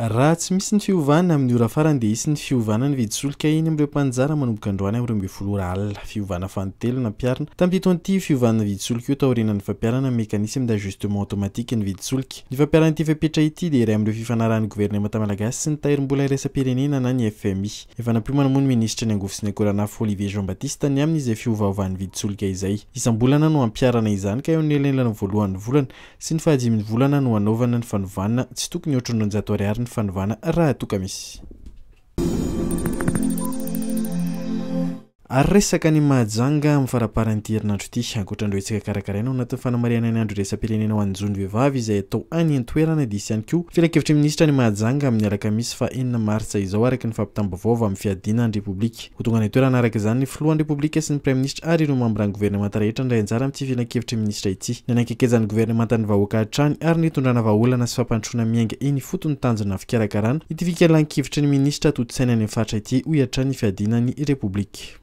Raha tsy misy ny fiovana, amin'ny ora farany dia hisy ny fiovana ny vidin-solika eny amin'ireo mpanjara manomboka androany amin'ny roa ambin'ny folo ora alina. Fiovana fanintelony nampiharina tamin'ity taon'ity fiovana vidin-tsolika io taorianan'ny fampiharana ny mécanisme d'ajustement automatique ny vidin-tsolika. Ny fampiharana ity fepetra ity dia iray amin'ireo fifanarahan'ny governemanta malagasy sy ny tahirim-bola iraisam-pirenena na ny fmi. Efa nampiomana moa ny minisitry ny angovo sy ny akoranafo Olivier Jean Baptiste ny amin'izay fiovaovan'ny vidin-tsolika izay. Isam-bolana no hampiharana izany ka eo amin'ny elanelany voalohan'ny volana sy ny fahadimy volana no hanaovana ny fanovana, tsy tokony ohatry ny roanjato ariary ny fanovana raha toa ka misy. Ary resaka any Mahajanga amin'ny faramparan'ity herinandro ity, ankoatran'ireo hetsaka karakaraina ao anatin'ny fanamarihana ny andro iraisam-pirenena ho an'ny zon'ny vehivavy izay atao any an-toerana dia hisy ihany koa filankevitry ny minisitra any Mahajanga amin'ny alakamisy faha enina martsa izao araka ny fampitam-baovao avy amin'ny fiadiana ny Repoblika Ho tonga any an-toerana araka izany ny filohan'ny Repoblika sy ny Praiminisitra ary ireo mambran'ny governemanta rehetra handray anjara amin'ity filankevitry ny minisitra ity. Ny hanakekezan'ny governemanta ny vahoaka hatrany ary ny hitondrana vahaolana sy fampandrosoana miainga eny ifotony ny tanjona fikarakarana ity fikalan-kevitry ny minisitra tontosaina any amin'ny faritra ity, hoy hatrany ny fiadiana ny Repoblika.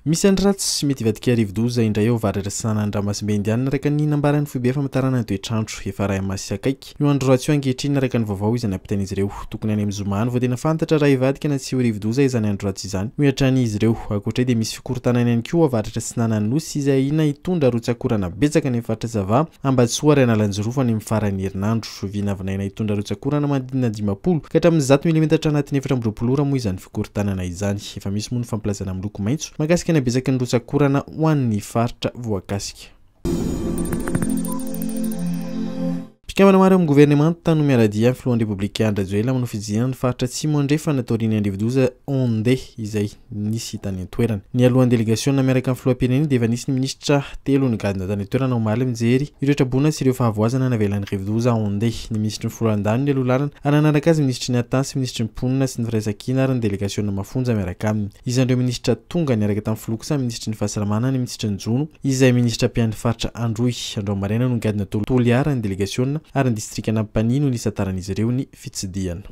Misy andro ratsy, mety hivadika rivodoza indray ao Variratsirana ny ranomasimbe Indianina araka ny nambaran'ny foibe famantarana ny toetr'andro. Efa iray ama sy akaiky io andro ratsy io ankehitriny araka ny vaovao izay nampitain'izy ireo. Tokony any amin'ny zoma any vao tena fantatra raha hivadika na tsia ho rivodoza izany andro ratsy izany, hoy hatrany izy ireo. Ankoatr'izay dia misy fikorontanana ihany koa ao avaratra atsinanan'ny Nosy izay ahiana hitondra rotsakorana betsaka any amin'ny faritra Sava, Ambatosoa ary Analanjirofo any amin'ny faran'ny herinandro. Vinavinaina hitondra rotsakorana manodidina dimampolo ka hatramin'ny zato milimetatra anatin'ny efatra amby roapolo ora moa izany mpikorontanana izany. Efa misy moa ny fampilazana miloko maitso mahakasika ny habezaky ny rotsak'orana ho an'ny faritra voakasika. Mpikambana maro amin'ny governemanta no miara-dia amin'ny filohan'ny Repoblika Andry Rajoelina manao fididiana ny faritra Atsimo Andrefana taorian'ny andrivo-doza Onde izay nisy tany an-toerana. Nialohan'ny delegasiona miaraka amin'ny filoham-pirenena dia efa nisy ny minisitra telo nigadona tany an-toerana omaly mijery ireo traboina sy ireo fahavoazana navelan'ny rivo-doza Onde. Ny minisitry ny Foloalindahy no nialoha lalana ary nanaraka azy ny minisitry ny Ata sy minisitry ny Mponina sy ny Firaisankina ary ny delegasiona mafonja miaraka aminy. Isan'ireo minisitra tonga niaraka tamin'ny filoha kosa ny minisitry ny Fahasalamana, ny minisitry ny Jono izay minisitra mpiahy ny faritra Androy. Androany maraina no nigadona tao Toliara ny delegasiona ary ny distrikan'Ampanihy no nisantaran'izy ireo ny fitsidihana.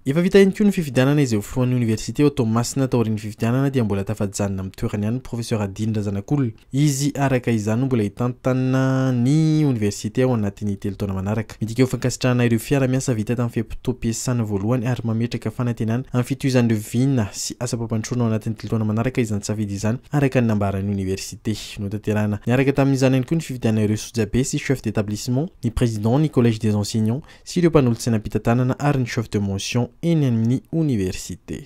Efa vita ihany koa ny fifidianana izay ho filohan'ny oniversite ao Toamasina. Taorian'ny fifidianana dia mbola tafajanona amin'ny toerany ihany ny Professeur Adiny Razanakolona. Izy araka izany no mbola hitantanina ny oniversite ao anatin'ny telo taona manaraka. Midika ho fankasitrahana ireo fiara-miasa vita tamin'ny fe-potoam-piasana voalohany ary mametraka fanantenana amin'ny fitohizan'ireo vina sy asam-pampandrosoana ao anatin'ny telo taona manaraka izany safidy izany, araka ny nambaran'ny oniversite. Notanterahina niaraka tamin'izany ihany koa ny fifidianana ireo sojabe sy chefs d'établissement, ny président, ny collège des enseignants, sy ireo mpanolotsenam-pitantanana ary ny chef de motion eny amin'ny oniversite.